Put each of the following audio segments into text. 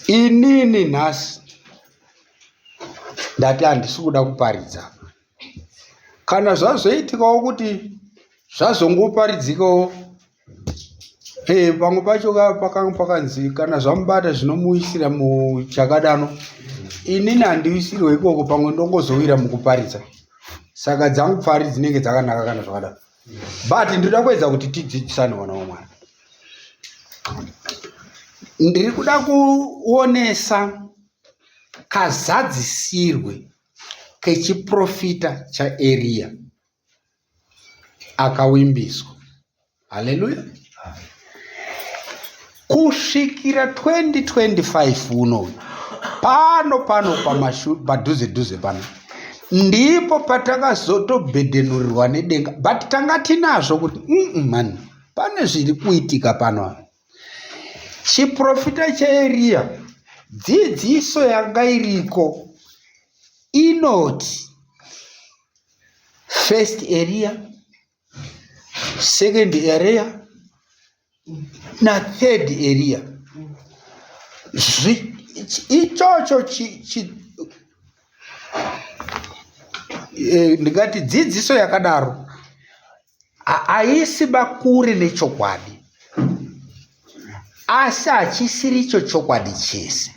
inini nhasi ndati handisi kuda kuparidza kana zvazoitikawo kuti zvazongoparidzikawo eh, pamwe pacho pakanga pakanzi kana zvamubata zvinomuisira muchakadano inini handiwisirwe ikoko pamwe ndongozowira mukuparidza saka dzangu pfari dzinenge dzakanaka kana zvakadaro but ndinoda kuedza kuti tidzidzisane vana wamwari ndiri kuda kuonesa kazadzisirwe kechiprofita chaeriya akawimbiswa haleluya kusvikira 2025 uno pano pano padhuze dhuze pano ndipo patakazotobhedhenurirwa nedenga but tanga tinazvo kuti mm mani pane zviri kuitika pano chiprofita cheeriya dzidziso yanga iriko inoti first area second area nathird area ichocho eh, ndingati dzidziso yakadaro haisi bakuri nechokwadi asi hachisiri icho chokwadi chese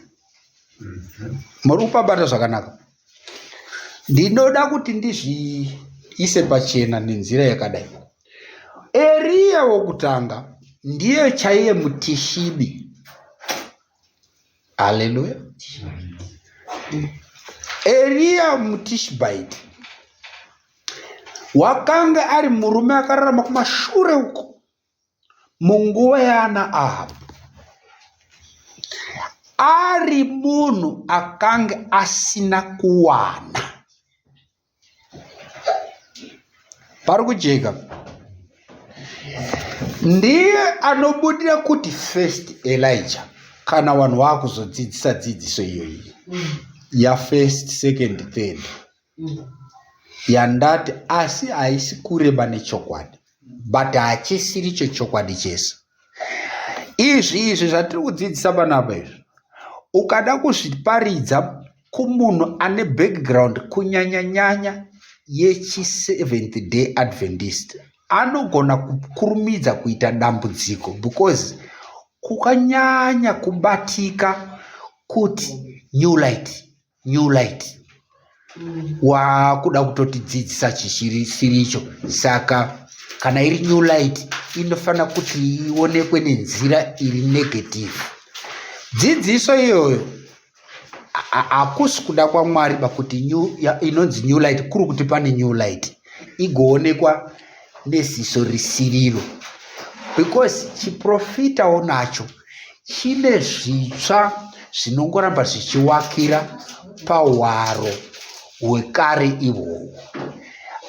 muri kupabata zvakanaka ndinoda kuti ndizviise pachena nenzira yakadai eriya wokutanga ndiye chaiye mutishibi haleluya eriya mutishibaiti wakanga ari murume akararama kumashure uko munguva yaana ahabhu ari munhu akange asina kuwana pari kujeka ndiye anobudira kuti first elija kana vanhu vaakuzodzidzisa dzidziso iyoyi yafirst second third yandati asi haisi kureba nechokwadi but hachisiri chechokwadi chese izvi izvi zvatiri kudzidzisa panapa izvi ukada kuzviparidza kumunhu ane background kunyanyanyanya yechiseventh day adventist anogona kukurumidza kuita dambudziko because kukanyanya kubatika kuti new light new light wakuda kutotidzidzisa chisiricho saka kana iri new light inofanira kuti ionekwe nenzira iri negative dzidziso iyoyo hakusi kuda kwamwari bakuti inonzi new light kuri kuti pane new light igoonekwa neziso risiriro because chiprofitawo nacho chine zvitsva zvinongoramba zvichiwakira pahwaro hwekare ihwohwo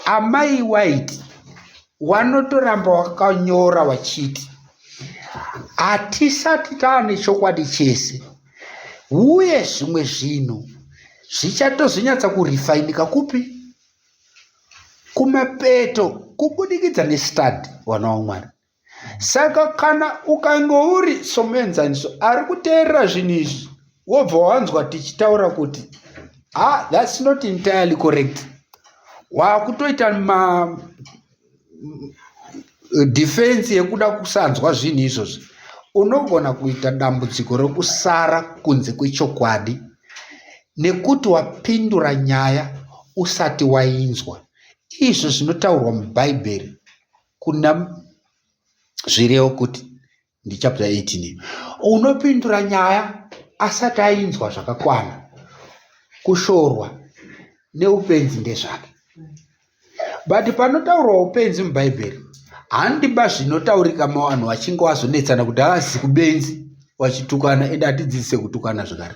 amai white wanotoramba wakanyora wachiti hatisati taane chokwadi chese uye zvimwe zvinhu zvichatozonyatsa kurifainika kupi kumapeto kubudikidza nestadi vana wamwari saka kana ukange uri somuenzaniso ari kuteerera zvinhu izvi wobva wanzwa tichitaura kuti ha ah, thats not entirely correct waakutoita defense yekuda kusanzwa zvinhu izvozvi unogona kuita dambudziko rekusara kunze kwechokwadi nekuti wapindura nyaya usati wainzwa izvo zvinotaurwa mubhaibheri kuna zvirewo kuti ndichapter 18 unopindura nyaya asati ainzwa zvakakwana kushorwa neupenzi ndezvake but panotaurwa upenzi mubhaibheri handiba zvinotaurika mavanhu vachinge wazonetsana kuti haazi kubenzi vachitukana ende hatidzidzise kutukana zvakare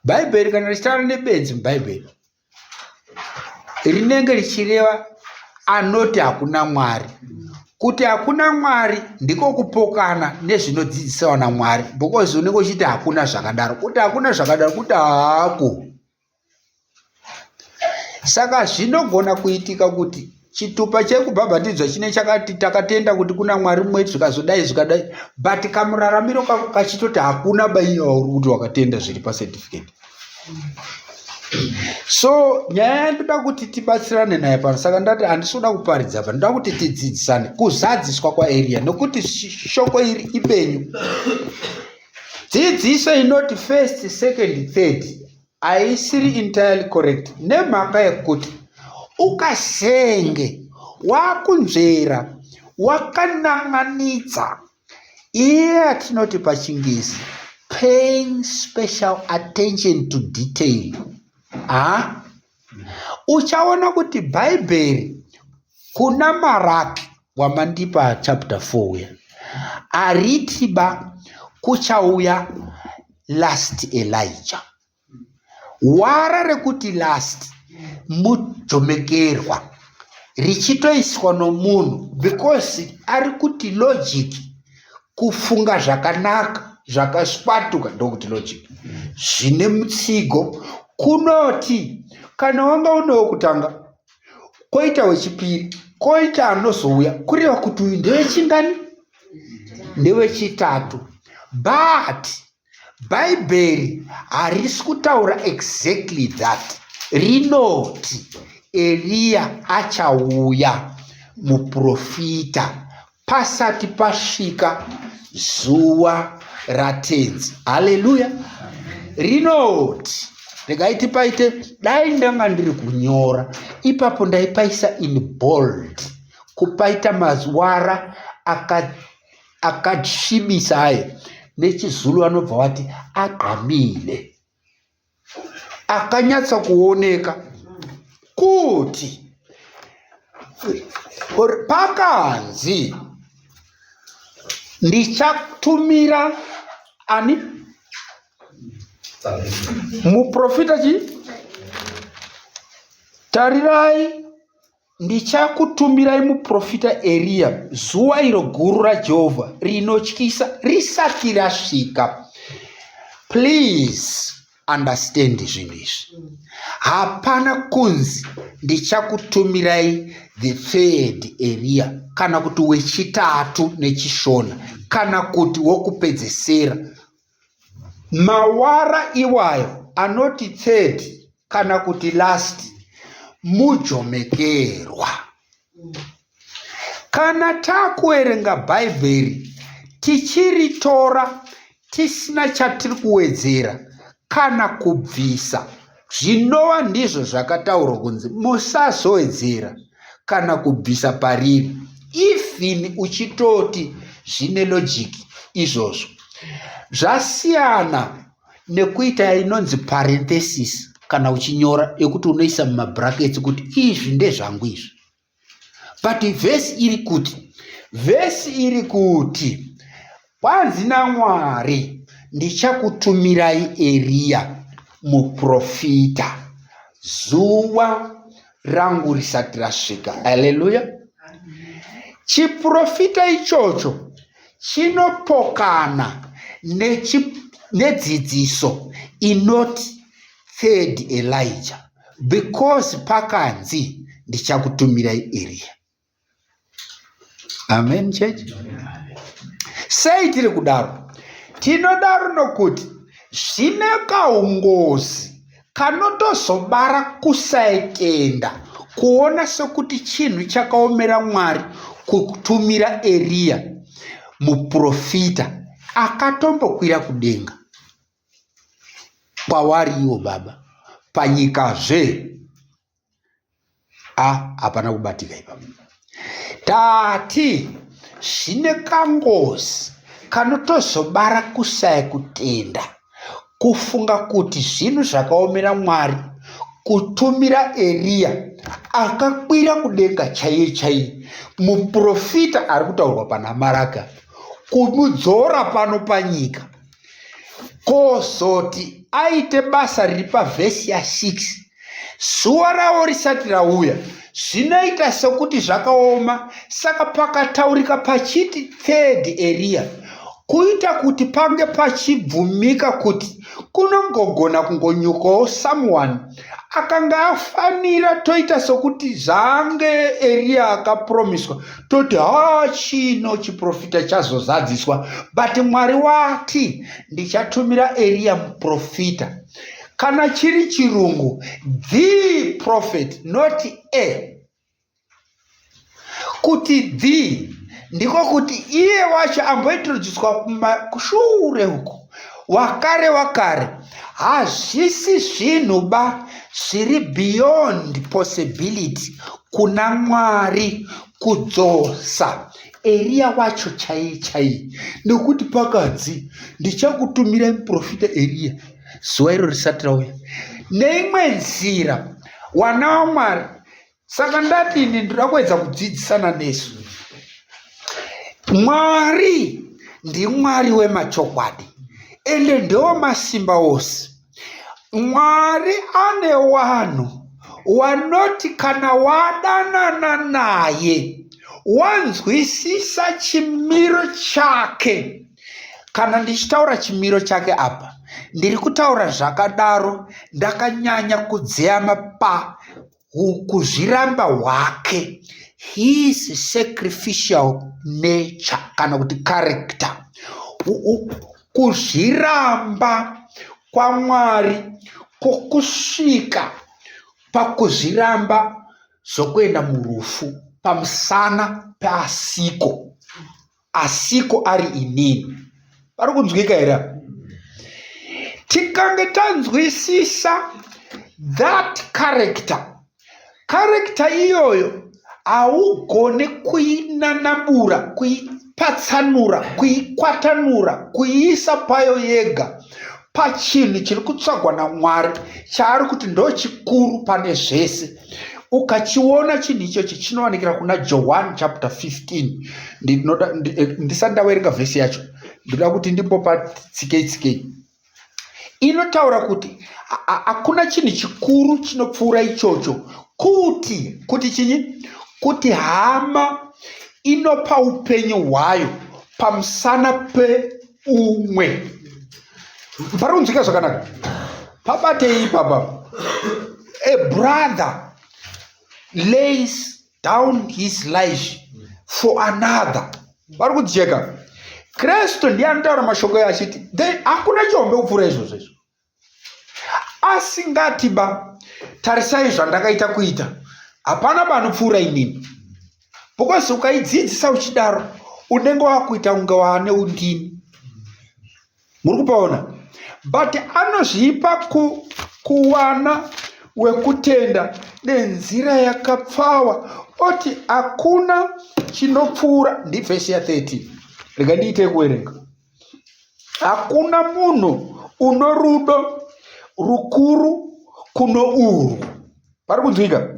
bhaibheri kana richitaura nebenzi mubhaibheri rinenge richireva anoti hakuna mwari kuti hakuna mwari ndiko kupokana nezvinodzidzisawa namwari because unenge uchiti hakuna zvakadaro kuti hakuna zvakadaro kuti haako saka zvinogona kuitika kuti chitupa chekubhabhatidzwa chine chakati takatenda kuti kuna mwari mumwe zvikazodai zvikadai but kamuraramiro kako kachitoti hakuna baiyauri kuti wakatenda zviri pacertificate so nyaya yandoda kuti tibatsirane naye pano saka ndati handisoda kuparidza pa ndoda kuti tidzidzisane kuzadziswa kwaeria nokuti shoko iri ipenyu dzidziso inoti first second third haisiri entirely correct nemhaka yekuti ukasenge wakunzvera wakanan'anidza iye atinoti pachingezi paying special attention to detail ha uchaona kuti bhaibheri kuna maraki wamandipa chapter 4 uya aritiba kuchauya last elija wara rekuti last mujomekerwa richitoiswa nomunhu because ari kuti logic kufunga zvakanaka zvakaswatuka ndokuti logic zvine mutsigo kunoti kana wanga unewo kutanga koita wechipiri koita anozouya kureva kuti uyu ndewechingani ndewechitatu but bhaibheri harisi kutaura exactly that rinoti eriya achauya muprofita pasati pasvika zuva ratenzi haleluya rinoti regai tipaite dai ndanga ndiri kunyora ipapo ndaipaisa in bold kupaita mazwara akasvibisa aka aye nechizulu vanobva vati agqamile akanyatsa kuoneka kuti pakanzi ndichatumira ani muprofita chii tarirai Ndichakutumirai muprofita Eriya zuva iro guru raJehovha rinotyisa risati rasvika. Please understand zvinhu izvi. Hapana kunzi ndichakutumirai the third Eriya kana kuti wechitatu nechishona kana kuti wokupedzesera Mawara iwayo anoti third kana kuti last mujomekerwa. Kana takuerenga Bhaibheri tichiritora tisina chatiri kuwedzera kana kubvisa. zvinova ndizvo zvakataurwa kunzi musazoedzera kana kubvisa pariri even uchitoti zvine logic izvozvo zvasiyana nekuita inonzi parenthesis kana uchinyora yekuti unoisa mumabrackets kuti izvi ndezvangu izvi but vhesi iri kuti vhesi iri kuti kwanzi namwari ndichakutumirai eriya muprofita zuva rangu risati rasvika haleluya chiprofita ichocho chinopokana nechiprofita nedzidziso inoti third elijah because pakanzi ndichakutumirai eriya amen church sei tiri kudaro tinodaro nokuti zvine kaungozi kanotozobara kusaitenda kuona sekuti chinhu chakaomera mwari kutumira eriya muprofita akatombokwira kudenga kwavari ivo baba panyika zve a hapana kubatika ipapa tati zvine kangozi kanotozobara kusaya kutenda kufunga kuti zvinhu zvakaomera mwari kutumira eriya akakwira kudenga chaiye chaiye muprofita ari kutaurwa panamaraga kumudzora pano panyika kozoti aite basa riri pavhesi ya6 zuva ravo risati rauya zvinoita sokuti zvakaoma saka pakataurika pachiti third eriya kuita kuti pange pachibvumika kuti kunongogona kungonyukawo someone akanga afanira toita sokuti zvaange eriya akapromiswa toti haa chino chiprofita chazozadziswa but mwari wati ndichatumira eriya muprofita kana chiri chirungu the prophet not a kuti the ndiko kuti iye wacho ambointroducwa kushure uko wakare wakare hazvisi zvinhu ba zviri beyond possibility kuna mwari kudzosa eriya wacho chaiye chaiye nekuti pakadzi ndichakutumira muprofita eriya zuva iro risati rauya neimwe nzira wana wamwari saka ndati ini ndinoda kuedza kudzidzisana nesu mwari ndimwari wemachokwadi ende ndewo masimba ose mwari ane wanhu wanoti kana wadanana naye wanzwisisa chimiro chake kana ndichitaura chimiro chake apa ndiri kutaura zvakadaro ndakanyanya kudzeyama pa kuzviramba hwake his sacrificial nature kana kuti character kuzviramba kwamwari kwokusvika pakuzviramba zvokuenda murufu pamusana peasiko asiko ari inini pari kunzwika here tikange tanzwisisa that character character iyoyo haugone kuinanabura kuipatsanura kuikwatanura kuiisa payo yega pachinhu chiri kutsvagwa namwari chaari kuti ndochikuru pane zvese ukachiona chinhu ichochi chinowanikira kuna joan chapter 15 ndinoda eh, ndisati ndawerenga vhesi yacho ndinoda kuti ndimbopa tsikei tsikei inotaura kuti hakuna chinhu chikuru chinopfuura ichocho kuti kuti chinyi kuti hama inopa upenyu hwayo pamusana pe umwe pari kunzwika zvakanaka pabatei ipapa a brother lays down his life for another vari kujeka kristu ndiye anotaura mashoko ayo achiti then hakuna chihombe kupfuura izvozvo izvo asingati ba tarisai zvandakaita kuita hapana banopfuura inini because ukaidzidzisa uchidaro unenge wakuita kunge waane undini muri kupaona but anozvipa ku, kuwana wekutenda nenzira yakapfawa oti hakuna chinopfuura ndivhesi ya 13 rega ndiite kuverenga hakuna munhu uno rudo rukuru kuno urwu pari kunzwika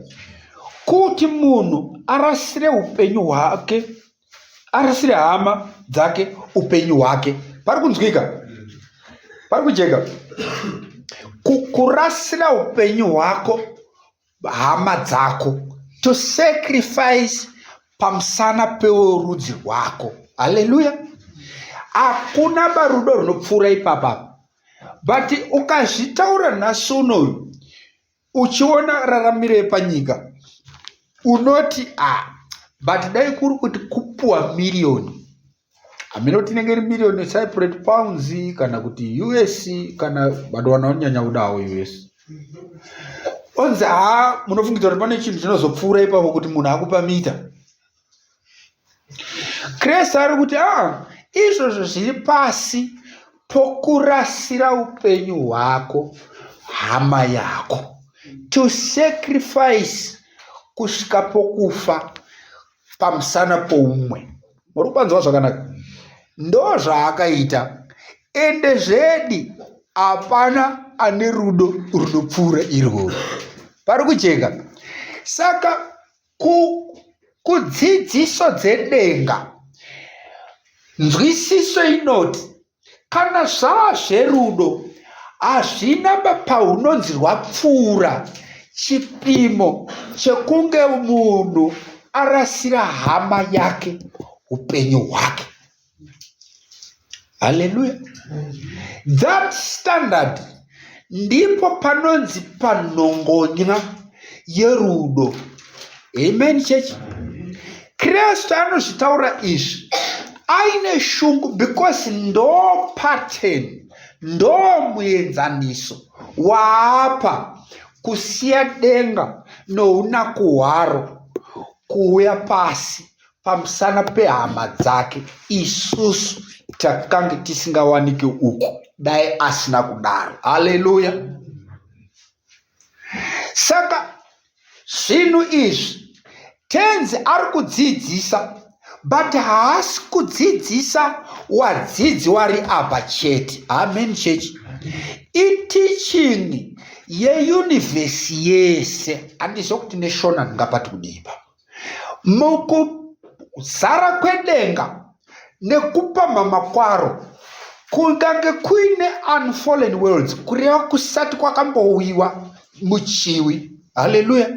kuti munhu arasire upenyu hwake arasire hama dzake upenyu hwake pari kunzwika pari kujeka kurasira upenyu hwako hama dzako to sacrifice pamusana peworudzi rwako haleluya hakuna barudo runopfuura ipapa but ukazvitaura nhasi unoyu uchiona raramiro yepanyika unoti a ah, but dai kuri kuti kupuwa miriyoni hameno kuti inenge iri million yecyprate pounds kana kuti us kana vanhu vanonyanya kuda hawo us onzi haa munofungidza kuti pane chinhu chinozopfuura ipapo kuti munhu akupa mita krist ari kuti a ah, izvozvo zviri pasi pokurasira upenyu hwako hama yako to sacrifice kusvika pokufa pamusana poumwe muri kupanzwa zvakanaka ndo zvaakaita ende zvedi hapana ane rudo runopfuura irwoo pari kujeka saka ku kudzidziso dzedenga nzwisiso inoti Kana zvava zverudo hazvina paunonzi rwapfuura chipimo chekunge munhu arasira hama yake upenyu hwake haleluya that standard ndipo panonzi panhongonya yerudo amen chechi kristu anozvitaura izvi aine shungu because ndo pattern ndo muenzaniso waapa kusiya denga nounaku hwaro kuuya pasi pamusana pehama dzake isusu takange tisingawanike uku dai asina kudaro haleluya saka zvinhu izvi tenzi ari kudzidzisa but haasi kudzidzisa wadzidzi wari apa chete amen chechi itichini yeyunivhesi yese handiziva kuti neshona ndingapati kudiipa mukuzara kwedenga nekupamhama kwaro kungange kuine unfallen worlds kureva kusati kwakambouyiwa muchiwi haleluya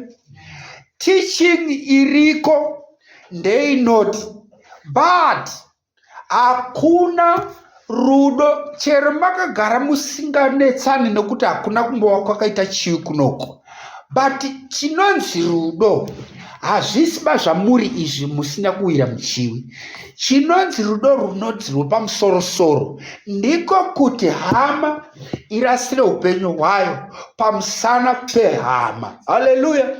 teaching iriko ndeinoti but hakuna rudo chero makagara musinganetsani nokuti hakuna kumbova kwakaita chivi kunoko but chinonzi rudo hazvisi ba zvamuri izvi musina kuwira muchiwi chinonzi rudo runonzi rwepamusorosoro ndiko kuti hama irasire upenyu hwayo pamusana pehama haleluya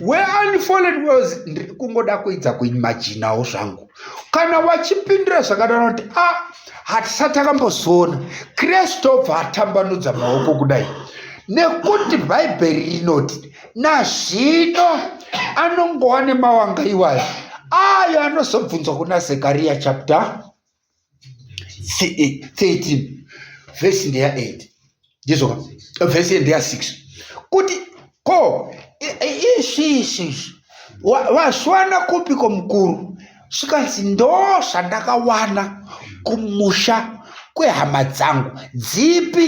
weunfollowed was ndiri kungoda kuidza kuimajinawo zvangu kana wachipindira zvakadana kuti a ah, hatisati akambozoona kristu obva atambanudza maoko kudai nekuti bhaibheri rinoti nazvino anongowa nemawanga iwayo ayo anozobvunzwa kuna zekariya chapter 13 vhesi ndeya 8 ndizoka vhesi ndeya 6 kuti ko ishishi waswana kupi ko mukuru zvikanzi ndo zvandakawana kumusha kwehama dzangu dzipi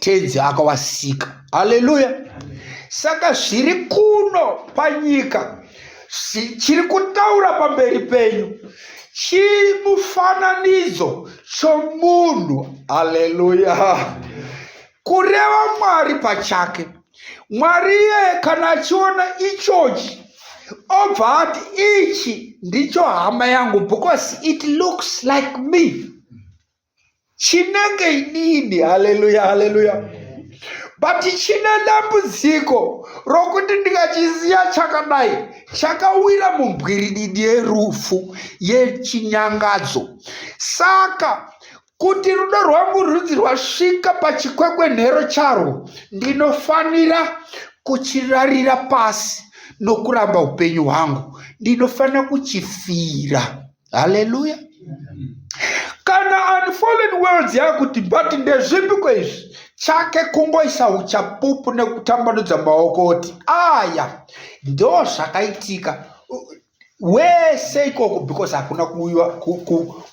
tenzi akawasika haleluya saka zviri kuno panyika chiri kutaura pamberi penyu chimufananidzo chomunhu haleluya kureva mwari pachake mwari iyeye kana achiona ichochi obva ati ichi ndicho hama yangu because it looks like me chinenge inini haleluya haleluya but chine dambudziko rokuti ndikachisiya chakadai chakawira mumbwirididi yerufu yechinyangadzo saka kuti rudo rwangu rudzi rwasvika pachikwekwenhero charwo ndinofanira kuchirarira pasi nokuramba upenyu hwangu ndinofanira kuchifira haleluya kana unfallen worlds yakuti but ndezvipi kweizvi chake kungoisa uchapupu nekutambanudza maoko oti aya ndo zvakaitika wese ikoko because hakuna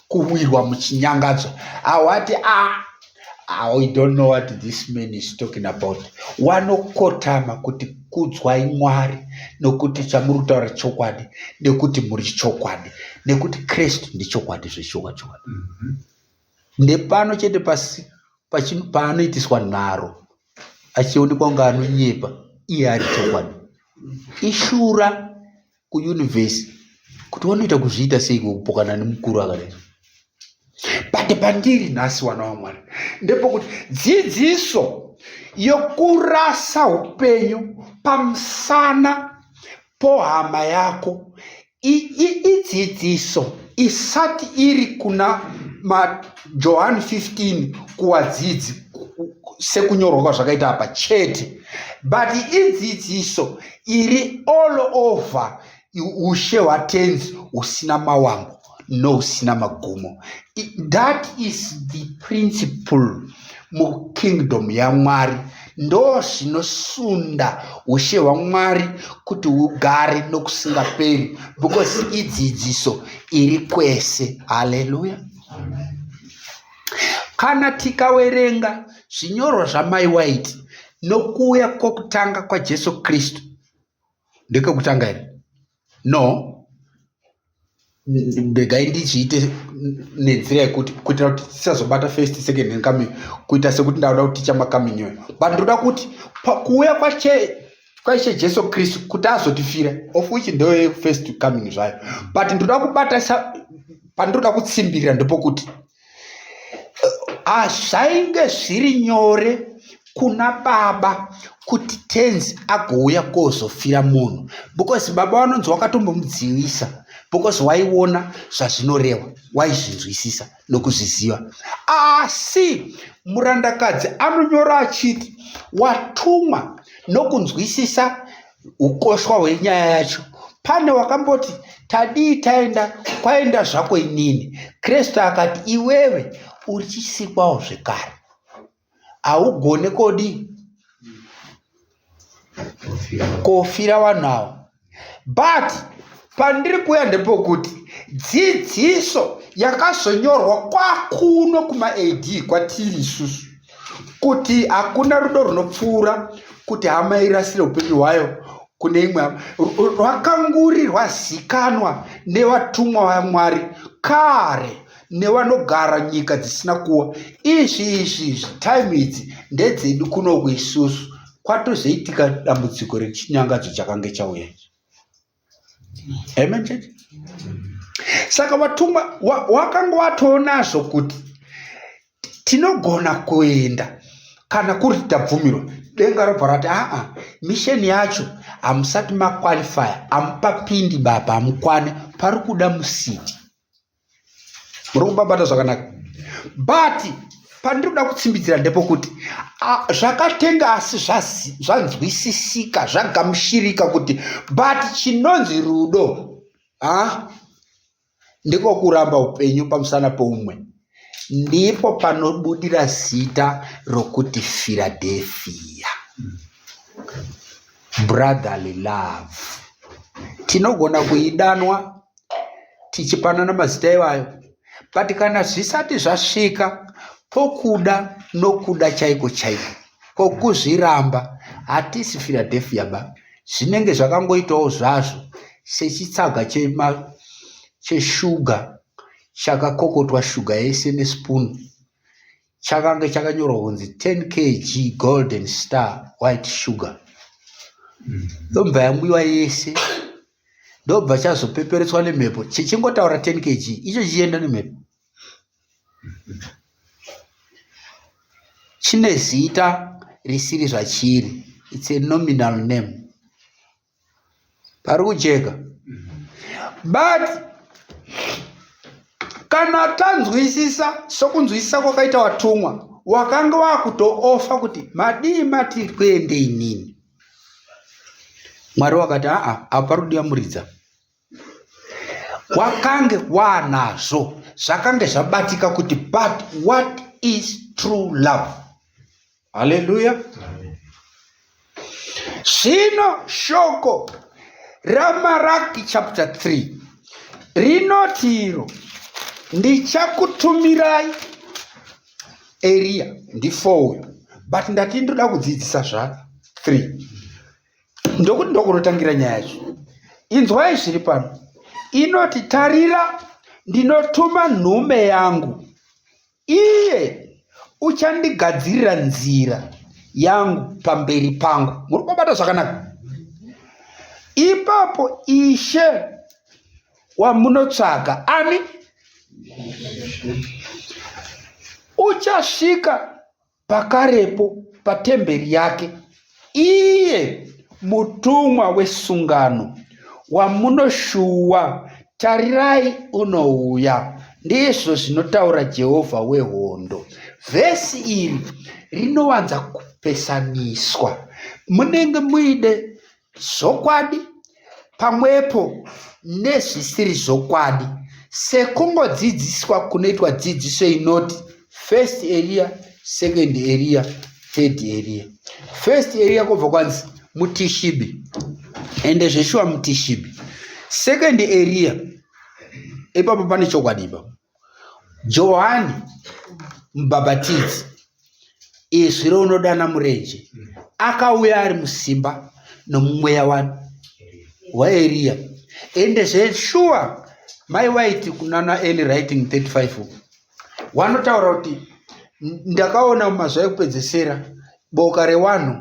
kuwirwa muchinyangadzo awati a ah, Ah, we don't know what this man is talking about wanokotama kuti kudzwai mwari nokuti chamuri kutaura chokwadi nekuti muri chokwadi nekuti kristu ndichokwadi zvechoka chokwadi mhm. ndepano chete pasi paanoitiswa nharo achionekwa kunge anonyepa iye ari chokwadi ishura kuuniverse kuti wanoita kuzviita sei kupokana nemukuru akadai but pandiri nhasi wana wamwari ndepokuti dzidziso yokurasa upenyu pamusana pohama yako idzidziso isati iri kuna majohani 15 kuwadzidzi sekunyorwa kwazvakaita apa chete but idzidziso iri all over ushe hwatenzi husina mawambo no usina magumo that is the principle mukingdom yamwari ndo zvinosunda ushe hwamwari kuti hugare nokusingaperi because idzidziso iri kwese haleluya kana tikawerenga zvinyorwa zvamai waiti nokuuya kwokutanga kwajesu kristu ndekekutanga here no regai ndichiite nenzira yekuti kuitira kuti tisazobata first second and coming kuita sekuti ndauda kuti tichama coming yoyo but ndoda kuti pakuuya kwache kwaishe jesu kristu kuti azotifira of which ndoye first coming zvayo but ndoda kubatasa pandinoda kutsimbirira ndepokuti hazvainge ah, zviri nyore kuna baba kuti tenzi agouya kozofira munhu because baba vanonzi wakatombomudzivisa because waiona zvazvinorehwa waizvinzwisisa nokuzviziva asi murandakadzi anonyora achiti watumwa nokunzwisisa ukoshwa hwenyaya yacho pane wakamboti tadii taenda kwaenda zvako inini kristu akati iwewe uchisikwawo zvekare haugone kodi kofira vanhu avo but pandiri kuuya ndepokuti dzidziso yakazonyorwa kwakuno kumaad kwatiri isusu kuti hakuna rudo runopfuura kuti hama irasire upenyu hwayo kune imwe hama rwakanguri rwazikanwa nevatumwa vamwari kare nevanogara nyika dzisina kuwa izvi izvi izvi time idzi ndedzedu kunoku isusu kwatozoitika dambudziko rechinyangadzo chakange chauya amen church saka watumwa wakanga watoonazvo kuti tinogona kuenda kana kuri tabvumirwa denga robva rati aa misheni yacho hamusati maqualifya hamupapindi baba hamukwane pari kuda musiti muri kubabata zvakanaka but pandiri kuda kutsimbitsira ndepokuti zvakatenga asi zvanzwisisika zvagamushirika kuti but chinonzi rudo ha ndiko kuramba upenyu pamusana poumwe ndipo panobudira zita rokuti firadhefiya brotherly love tinogona kuidanwa tichipanana mazita iwayo but kana zvisati zvasvika pokuda nokuda chaiko chaiko pokuzviramba hatisi philadelphia ba zvinenge zvakangoitawo zvazvo sechitsaga cheshuga chakakokotwa shuga yese nespoon chakange chakanyorwa kunzi 10 kg golden star white sugar mm. yobva yamwiwa yese ndobva chazopeperetswa nemhepo chichingotaura 10 kg icho chichienda nemhepo chine zita risiri zvachiri its a nominal name pari kujeka but kana tanzwisisa sokunzwisisa kwakaita watumwa wakanga wakutoofa kuti madii matiri kuende inini mwari wakati aa apa pari kudiyamuridza kwakange kwanazvo zvakange zvabatika kuti but what is true love haleluya zvino shoko ramaraki chapter 3 rinoti iro ndichakutumirai Eria ndi 4 uyu but ndati ndoda kudzidzisa zva 3 ndokuti ndokunotangira nyaya yacho inzwai zviri pano inoti tarira ndinotuma nhume yangu iye uchandigadzirira nzira yangu pamberi pangu muri kubata zvakanaka ipapo ishe wamunotsvaga ami uchasvika pakarepo patemberi yake iye mutumwa wesungano wamunoshuwa tarirai unouya ndizvo zvinotaura jehovha wehondo vhesi iri rinowanza kupesaniswa munenge muide zvokwadi pamwepo nezvisiri zvokwadi sekungodzidziswa kunoitwa dzidziso inoti first area second area third area first area kwobva kwanzi mutishibi ende zveshuwa mutishibi second area ipapo pane chokwadi ipapo johani mubhabhatidzi izwi rounodana murenje akauya ari musimba nomumweya wani waeriya ende zveshuwa mai waiti kunana eli writing 35 uku wanotaura kuti ndakaona mumazuva ekupedzesera boka rewanhu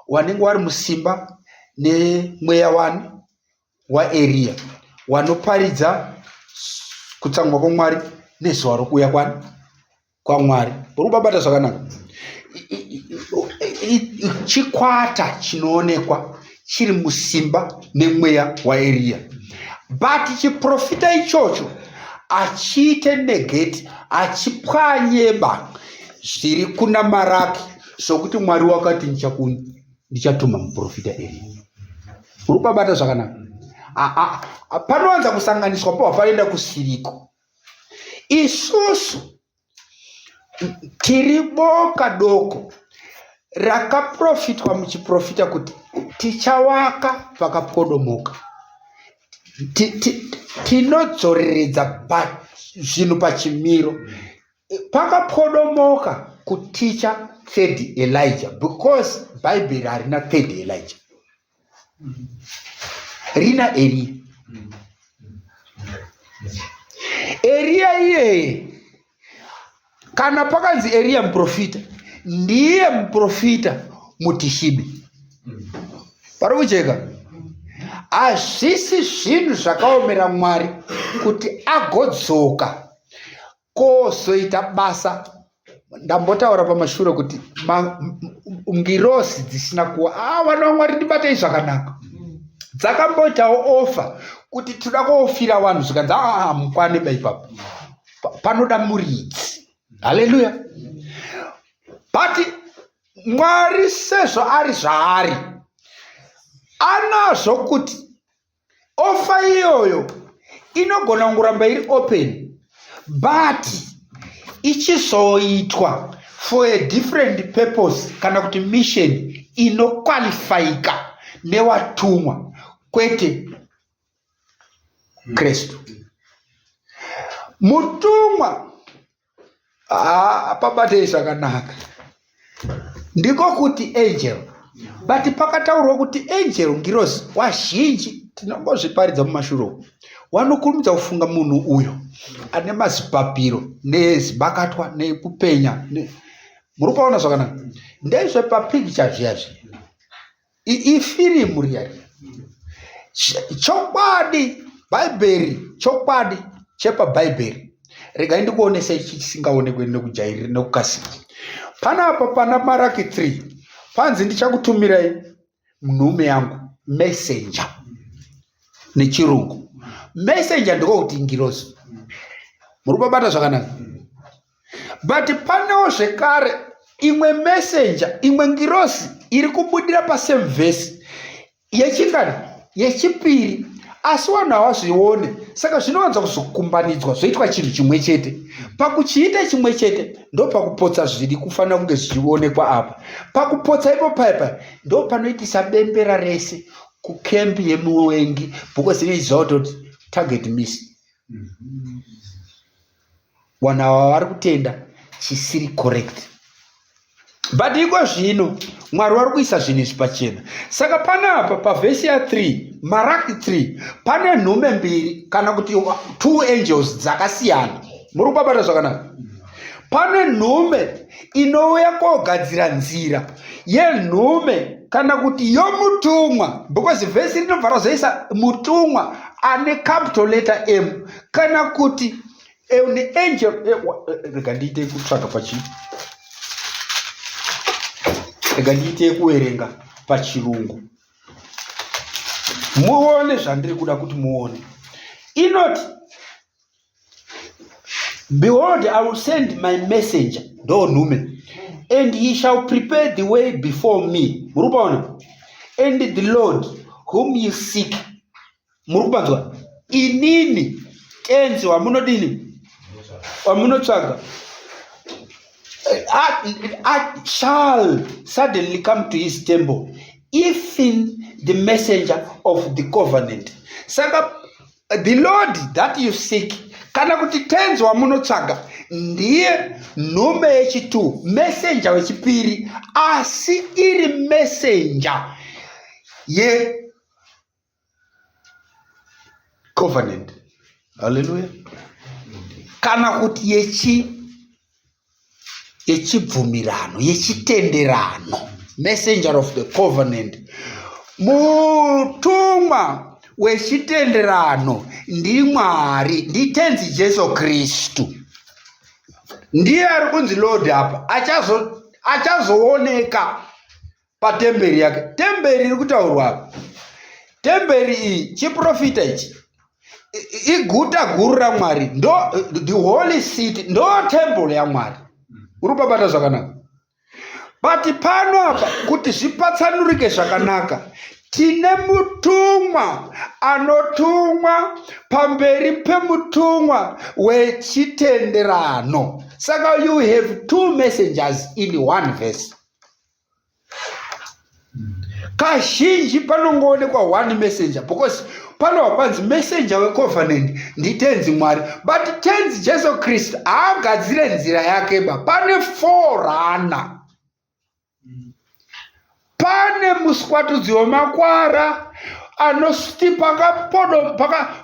wanenge wari musimba nemweya wani waEria wanoparidza kutsamwa kwamwari nezuva rokuuya kwani kwamwari uri kubabata zvakanaka chikwata chinoonekwa chiri musimba nemweya waeriya but chiprofita ichocho achiite negeti achipwanyeba zviri kuna maraki sokuti mwari wakati ndichakuni ndichatuma muprofita eriya uri kubabata zvakanaka panowanza kusanganiswa po hapanoenda kusiriko isusu tiri boka doko rakaprofitwa muchiprofita kuti tichawaka pakapwodomoka tinodzoreredza zvinhu pachimiro Pakapodomoka kuticha third Elijah because Bible harina third Elijah. Rina Elia. Elia iyeye kana pakanzi Elia muprofita ndiye muprofita mutishibi. Pari kujeka. Hazvisi zvinhu zvakaomera Mwari kuti agodzoka kozoita basa ndambotaura pamashure kuti ngirosi dzisina kuwa a ah, vana vamwari ndibatei zvakanaka dzakamboitawo ofa kuti tinoda koofira vanhu zvikanzi aa ah, mukwane ba ipapo panoda muridzi haleluya but mwari sezvo ari zvaari anazvo kuti Offer iyoyo inogona kungoramba iri open but ichizoitwa for a different purpose kana kuti mission inokwalifayika newatumwa kwete kristu mutumwa ah, pabatei zvakanaka ndiko kuti angel but pakataurwa kuti angel ngirozi wazhinji tinongozviparidza mumashuro wanokurumidza kufunga munhu uyo ane mazipapiro nezibakatwa nekupenya muri kuona zvakanaka ndezvepapicture zviya zviya ifirimu riya riya chokwadi bhaibheri chokwadi chepabhaibheri regai ndikuonesa ichi chisingaonekwe nekujairira nekukasira panapa pana maraki 3 panzi ndichakutumirai nhume yangu messenger nechirungu messenger ndiko kuti ngirozi muri kubabata zvakanaka but panewo zvekare imwe messenger imwe ngirosi iri kubudira pasame vhesi yechingani yechipiri asi vanhu havazvione saka zvinowanza kuzokumbanidzwa zvoitwa chinhu chimwe chete pakuchiita chimwe chete ndopakupotsa zviri kufanira kunge zvichionekwa apa pakupotsa ipo paipa ndo panoitisa bembera rese kukembi yemuwengi because inoiziva kutoti target miss mm -hmm. wanhu ava vari kutenda chisiri correct but iko zvino mwari wari kuisa zvinhu izvi pachena saka panapa pavhesi ya 3 maraki 3 pane nhume mbiri kana kuti two angels dzakasiyana muri kubabata zvakanaka pane nhume inouya kogadzira nzira yenhume kana kuti yomutumwa because vhesi rinobva razoisa mutumwa ane capital letter m kana kuti an angel rega ndiite kutsvaga pachi rega ndiite kuverenga pachirungu muone zvandiri kuda kuti muone inoti behold i will send my messenger ndo nhume and he shall prepare the way before me muri kuona and the lord whom you seek muri kupanzwa inini tenzi wamunodini wamunotsvaga I, I shall suddenly come to his temple if in the messenger of the covenant saka the lord that you seek kana kuti tenzi wamunotsvaga ndiye nhume yechitu messenger wechipiri asi iri messenger ye covenant haleluya kana kuti yechi yechibvumirano yechitenderano messenger of the covenant mutumwa wechitenderano ndimwari nditenzi jesu kristu ndiye ari kunzi lord apa achazooneka achazo patemberi yake temberi iri kutaurwa apa temberi iyi chiprofita ichi iguta guru ramwari ndo the holy city ndo temple yamwari uri kubabata zvakanaka but pano apa kuti zvipatsanurike zvakanaka tine mutumwa anotumwa pamberi pemutumwa wechitenderano saka you have two messengers in one verse kazhinji panongoonekwa one messenger because panowa panzi messenger wecovenant nditenzi mwari but tenzi jesu kristu haagadzire nzira yake ba pane forana pane muswatudzi wemakwara anoti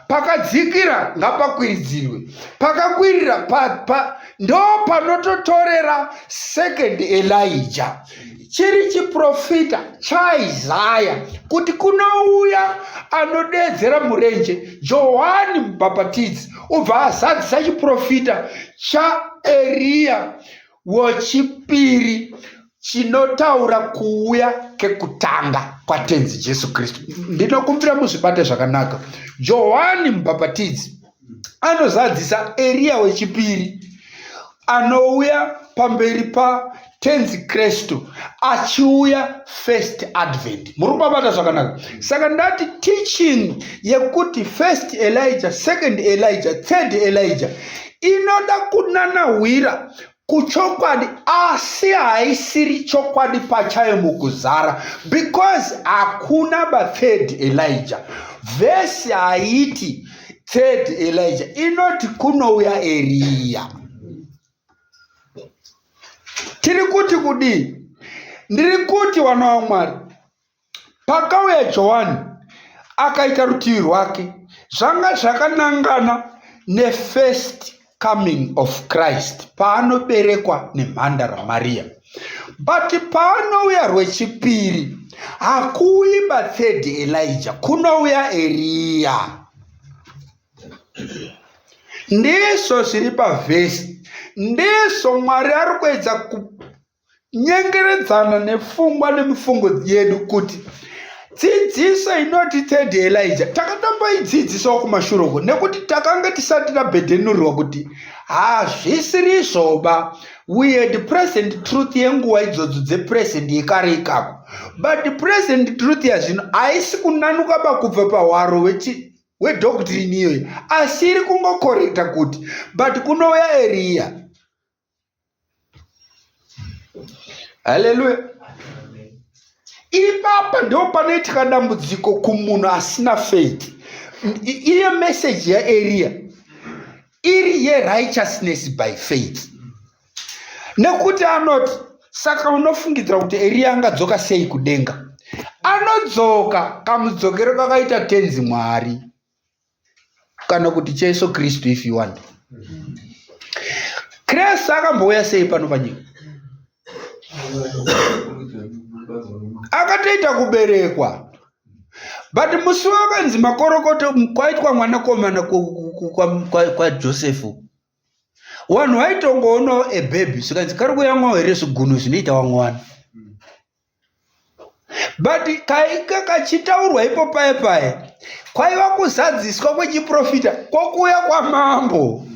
pakadzikira ngapakwiridzirwe pakakwirira pa, pa, ndo panototorera second elija chiri chiprofita chaisaya kuti kunouya anodeedzera murenje johani mubhapatidzi ubva azadzisa chiprofita chaeriya wechipiri chinotaura kuuya kekutanga kwatenzi jesu kristu ndinokumbira muzvibate zvakanaka johani mubhapatidzi anozadzisa eriya wechipiri anouya pamberi patenzi kristu achiuya first advent muri kubabata zvakanaka saka ndati teaching yekuti first elijah second elijah third elijah inoda kunanahwira kuchokwadi asi haisiri chokwadi pachayo mukuzara because hakuna bathird elija vhesi haiti third elija inoti kunouya eriya tiri kuti kudii ndiri kuti wana wamwari Pakauya Johani, akaita rutivi rwake, zvanga zvakanangana nefirst coming of Christ, paanoberekwa nemhandara Maria. But paanouya rwechipiri, hakuuyi bathird Elija, kunouya Eriya. Ndizvo zviri pavhesi, ndizvo Mwari ari kuedza nyengeredzana nefungwa nemifungo yedu kuti dzidziso inoti third elija takatomboidzidzisawo kumashure uko nekuti takanga tisati tabhedhenurwa kuti hazvisiri zvoba we had present truth yenguva idzodzo dzepresent yekare ikako but present truth yazvino haisi kunanuka ba kubva pahwaro wedoctrine iyoyi asi iri kungokorekta kuti but kunouya eriya haleluya ipapa ndo panoitika dambudziko kumunhu asina faith iyo meseji yaeriya iri yerighteousness by faith nekuti anoti saka unofungidzira kuti eriya angadzoka sei kudenga anodzoka kamudzokero kakaita tenzi mwari kana kuti chaiso kristu if you want kristu akambouya sei pano panyika akatoita kuberekwa but musi wakanzi makorokoto kwaitwa mwanakomana kwajosefu wanhu vaitongoonawo ebebi zvikanzi kari kuyamwawo here zvigunhu zvinoita wamwana but kaika kachitaurwa ipo paye paye kwaiva kuzadziswa kwechiprofita kwokuuya kwamambo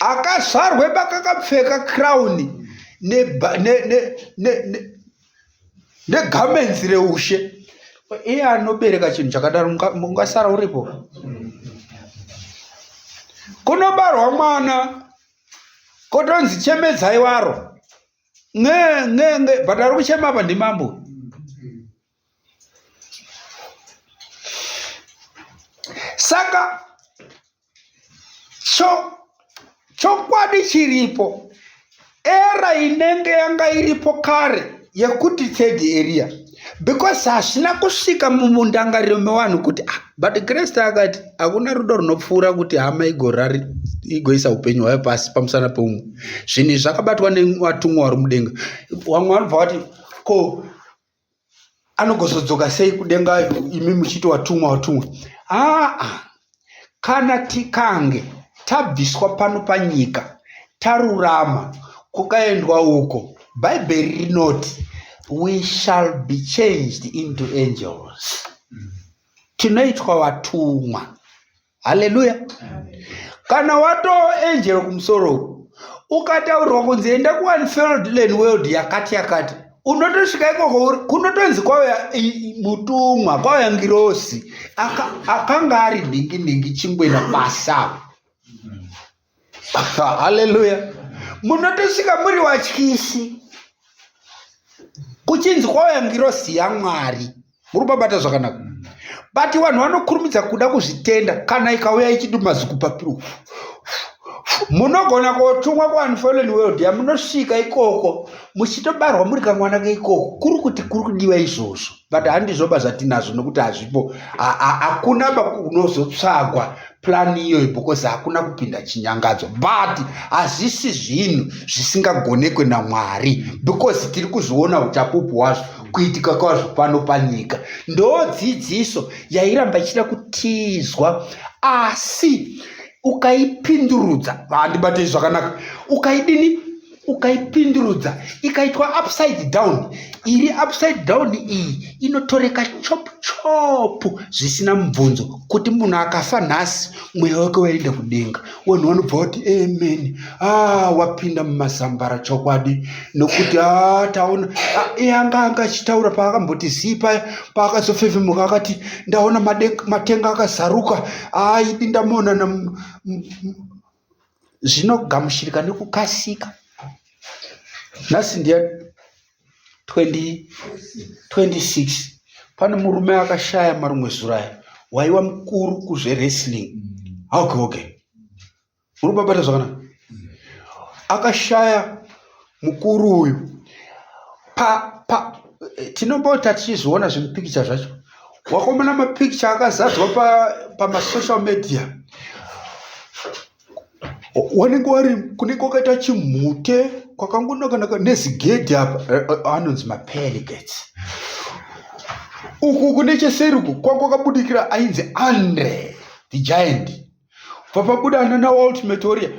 akazvarwe bakakapfeka crown negarments ne, ne, ne, ne reushe iye anobereka chinhu chakadaro mungasara uripo kunobarwa mwana kotonzi chemedzai waro nge nge nge but ari kuchema apa ndimambo saka cho chokwadi chiripo era inenge yanga iripo kare yekuti third area because hazvina kusvika mundangariro mevanhu kuti ah, but kreste akati hakuna rudo runopfuura kuti hama igorari igoisa upenyu hwayo pasi pamusana peumwe zvinhu izvi zvakabatwa nevatumwa vari mudenga vamwe vanobva vati ko anogozodzoka sei kudenga imi muchiti watumwa watumwa aa ah, ah. kana tikange tabviswa pano panyika tarurama kukaendwa uko bhaibheri rinoti we shall be changed into angels tinoitwa vatumwa haleluya kana watoo angel kumusoro ukataurwa kunzi enda kuunfeld land world yakati yakati unotosvika ikoko kunotonzi kwauya mutumwa kwauya ngirosi akanga ari dhingi dhingi chingwena pasi avo haleluya munotosvika muri watyisi kuchinzi kwauya ngirosi yamwari muri kubabata zvakanaka but vanhu vanokurumidza kuda kuzvitenda kana ikauya ichidi mazikupapiro munogona kotumwa kuunfallen world yamunosvika ikoko muchitobarwa muri kamwana keikoko kuri kuti kuri kudiwa izvozvo but handizvoba zvatinazvo nokuti hazvipo hakuna unozotsvagwa plani iyoyo because hakuna kupinda chinyangadzo but hazvisi zvinhu zvisingagonekwe namwari because tiri kuzviona uchapupu hwazvo kuitika kwazvo pano panyika ndo dzidziso yairamba ichida kutizwa asi ukaipindurudza handibate zvakanaka ukaidini ukaipindurudza ikaitwa upside down iri upside down iyi inotoreka chop chop zvisina mubvunzo kuti munhu akafa nhasi mweya wake waenda kudenga wanhu vanobva vati amen a ah, wapinda mumazambara chokwadi nokuti a ah, taona ah, e anga anga achitaura paakamboti zii paya paakazofefemuka akati ndaona matenga akazaruka a idi ndamonana zvinogamuchirika nekukasika. Nhasi ndiya 26 pane murume akashaya marumwe zuro aya waiwa mukuru kuzvewrestling okay okay muri kubabata zvakanaka akashaya mukuru uyu pa, pa tinopota tichizviona zvimupikicha zvacho wakomona mapikicha akazadzwa pamasocial pa media wanenge wari kunenge kwakaita chimhute kwakangonakanaka nezigedhi apa eh, eh, anonzi mapeligates uku kune cheseri uku kwakakabudikira ainzi andre the giant papabuda nana ultimate warrior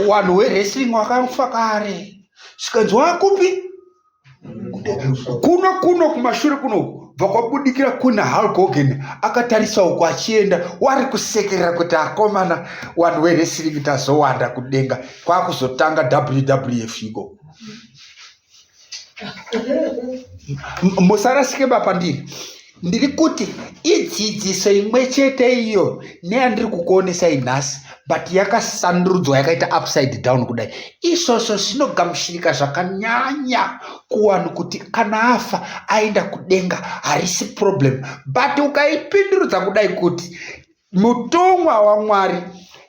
wanhu wewrestling wakafa kare zvikanzi wakupi kuno kuno kumashure kunoku bva kwabudikira kuna hulk hogan akatarisa uko achienda wari kusekerera kuti akomana wanhu wewrestling tazowanda kudenga kwakuzotanga wwf iko musarasike bapandiri ndiri kuti idzidziso imwe chete iyo neyandiri kukuonesa inhasi but yakasandurudzwa yakaita upside down kudai izvozvo zvinogamushirika zvakanyanya kuwanhu kuti kana afa aenda kudenga harisi problem but ukaipindurudza kudai kuti mutumwa wamwari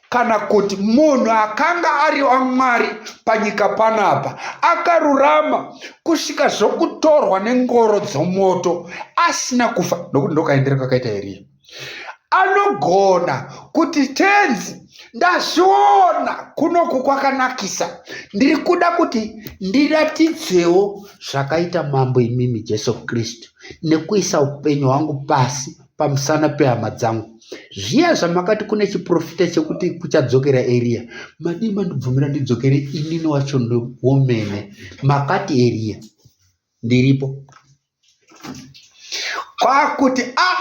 kana kuti munhu akanga ari wamwari panyika panapa akarurama kusvika zvokutorwa nengoro dzomoto asina kufa nokuti ndokaendera kakaita eriya anogona kuti tenzi ndazviona kunoku kwakanakisa ndiri kuda kuti ndiratidzewo zvakaita mambo imimi jesu kristu nekuisa upenyu hwangu pasi pamusana pehama dzangu zviya zvamakati kune chiprofita chekuti kuchadzokera eriya madii mandibvumira ndidzokere inini wacho ndiwomene makati eriya ndiripo kwakuti a ah,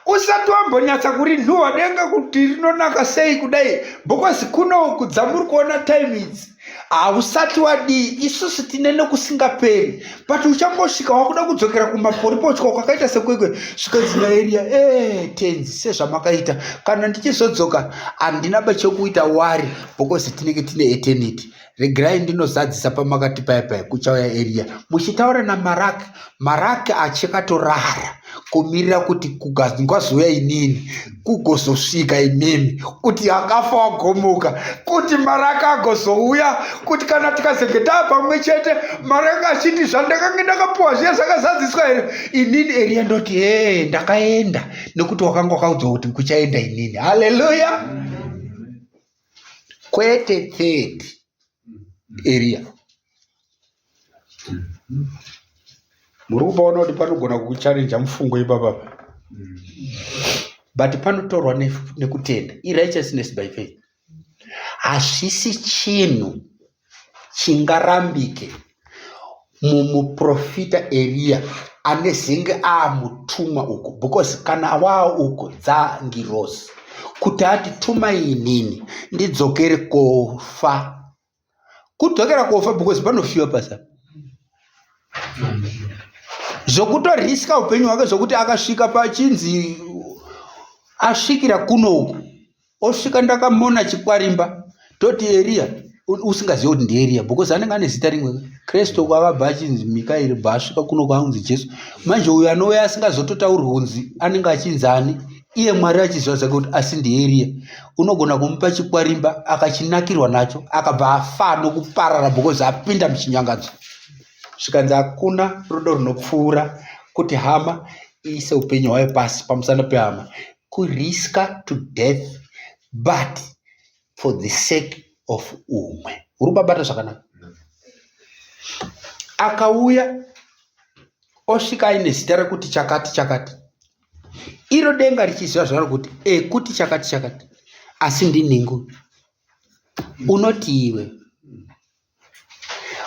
usati wambonyatsa kuri nhuwa denga kuti rinonaka sei kudai bhokosi kuno kudza muri kuona time idzi hausati wadii isusu tine nekusingaperi but uchangosvika wakuda kudzokera kumaporipochwa kwakaita sekwekwe zvikanzina eria e eh, tenzi sezvamakaita kana ndichizodzoka handina bachekuita wari because tinenge tine eternity regerai ndinozadzisa pamakati paya paya kuchauya eria muchitaura namarak marak achakatorara kumirira kuti kugazungwazuya inini kugozosvika imimi kuti akafa wagomuka kuti maraka agozouya kuti kana tikazenge taa pamwe chete maraka achiti zvandakange ndakapuwa zviya zvakazadziswa here inini eriya ndoti ee ndakaenda nekuti wakanga wakaudzwa kuti kuchaenda inini haleluya kwete third eriya mm. muri kupaona kuti panogona kukucharenja mufungo ipapa but panotorwa nekutenda irighteousness by faith hazvisi chinhu chingarambike mumuprofita eriya anezenge aamutumwa uku because kana awaa uku dzangirosi kuti ati tumai inini ndidzokere kofa kudzokera kofa because panofiwa pasa zvokutoriska upenyu hwake zvokuti akasvika pachinzi asvikira kunoku osvika ndakamona chikwarimba toti eriya usingazivi kuti ndieriya because anenge ane zita rimwe kristu kwakabva achinzi mikaeri bva asvika kuno kwaanzi jesu manje uyo anouya asingazototaurwi unzi anenge achinzi ani iye mwari achizivazake kuti asi ndieriye unogona kumupa chikwarimba akachinakirwa nacho akabva afa nokuparara because apinda muchinyangadzo zvikanzi hakuna rudo runopfuura kuti hama iise upenyu hwayo pasi pamusana pehama kuriska to death but for the sake of umwe uri kubabata zvakanaka akauya osvika aine zita rekuti chakati chakati iro denga richiziva zvaro kuti e kuti chakati chakati asi ndinhingu unoti iwe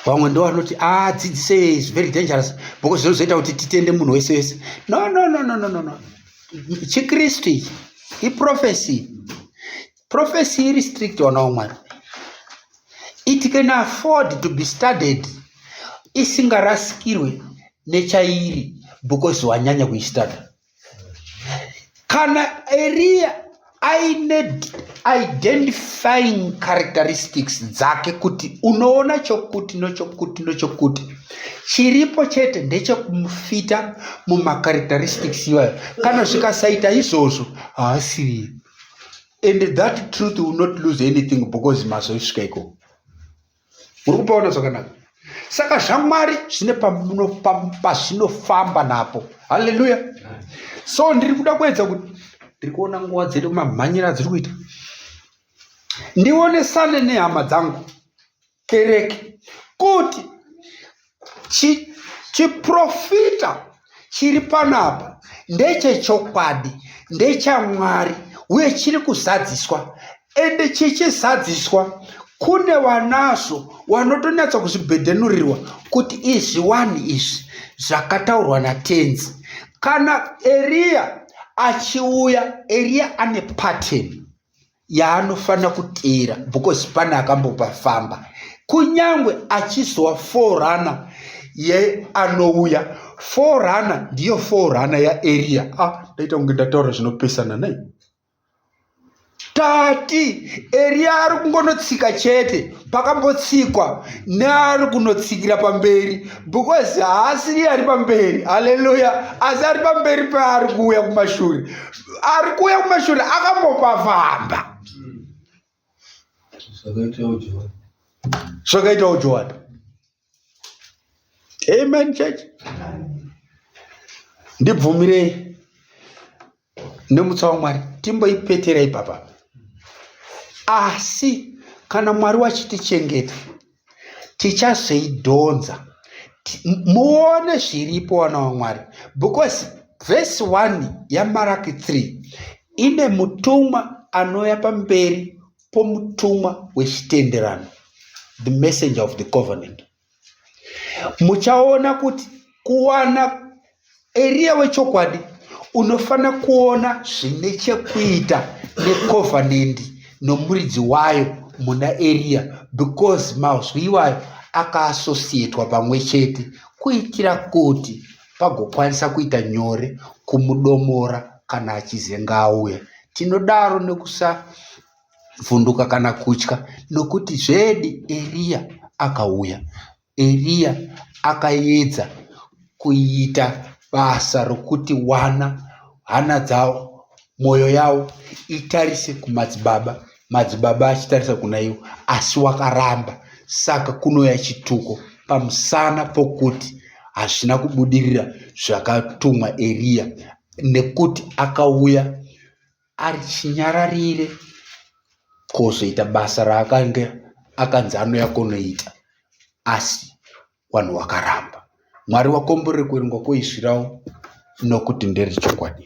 vamwe ndo vanoti adzidzise ah, is very dangerous because zvinozoita kuti titende munhu wese wese no no no no no no no chikristu ichi iprofesi Prophecy iri strict wana wamwari. It can afford to be studied isingarasikirwe nechairi because wanyanya kuistudy. Kana Eria aine identifying characteristics dzake kuti unoona chokuti nochokuti nochokuti chiripo chete ndechekumufita mumacharacteristics iwayo kana zvikasaita izvozvo haasiriye and that truth will not lose anything because mazoisvika ikoko muri kupaona zvakanaka saka zvamwari zvine pazvinofamba napo halleluya so ndiri kuda kuedza kuti ndiri kuona nguva dzedu mamhanyira dziri kuita ndionesane nehama dzangu kereke kuti chiprofita chi chiri panapa ndechechokwadi ndechamwari uye chiri kuzadziswa ende chichizadziswa kune vanazvo vanotonyatsa kuzvibhedhenurirwa kuti izvi wani izvi zvakataurwa natenzi kana eriya achiuya eriya ane pateni yaanofanira kuteera because pane akambopa famba kunyange achizowa forunner yeanouya forunner ndiyo forunner yaeria a ah, ndaita kunge ndataura zvinopesana nei tati eria ari kungonotsika chete pakambotsikwa neari kunotsikira pamberi because haasiri ari pamberi haleluya asi ari pamberi peari kuuya kumashure ari kuuya kumashure akambopafamba zvakaitawo johani amen church ndibvumirei nemutsa wamwari timboipetera ipapa asi kana mwari wachitichengeta tichazoidhonza muone zviripo wana wamwari because vhesi 1 yamaraki 3 ine mutumwa anouya pamberi pomutumwa wechitenderano the messenger of the covenant muchaona kuti kuwana Eriya wechokwadi unofanira kuona zvine chekuita necovenant nomuridzi wayo muna Eriya because mazwi iwayo akaassociatwa pamwe chete kuitira kuti pagokwanisa kuita nyore kumudomora kana achizenga auya tinodaro nekusavhunduka kana kutya nokuti zvedi eriya akauya Eriya akaedza kuita basa rokuti wana hana dzavo, mwoyo yavo itarise kumadzibaba, madzibaba achitarisa kuna ivo, asi wakaramba. Saka kunouya chituko pamusana pokuti hazvina kubudirira zvakatumwa Eriya, nekuti akauya ari chinyararire kozoita basa raakange akanzi anouya kunoita asi wanhu wakaramba mwari wakomborere kuverengwa kwoizvirawo nokuti ndere chokwadi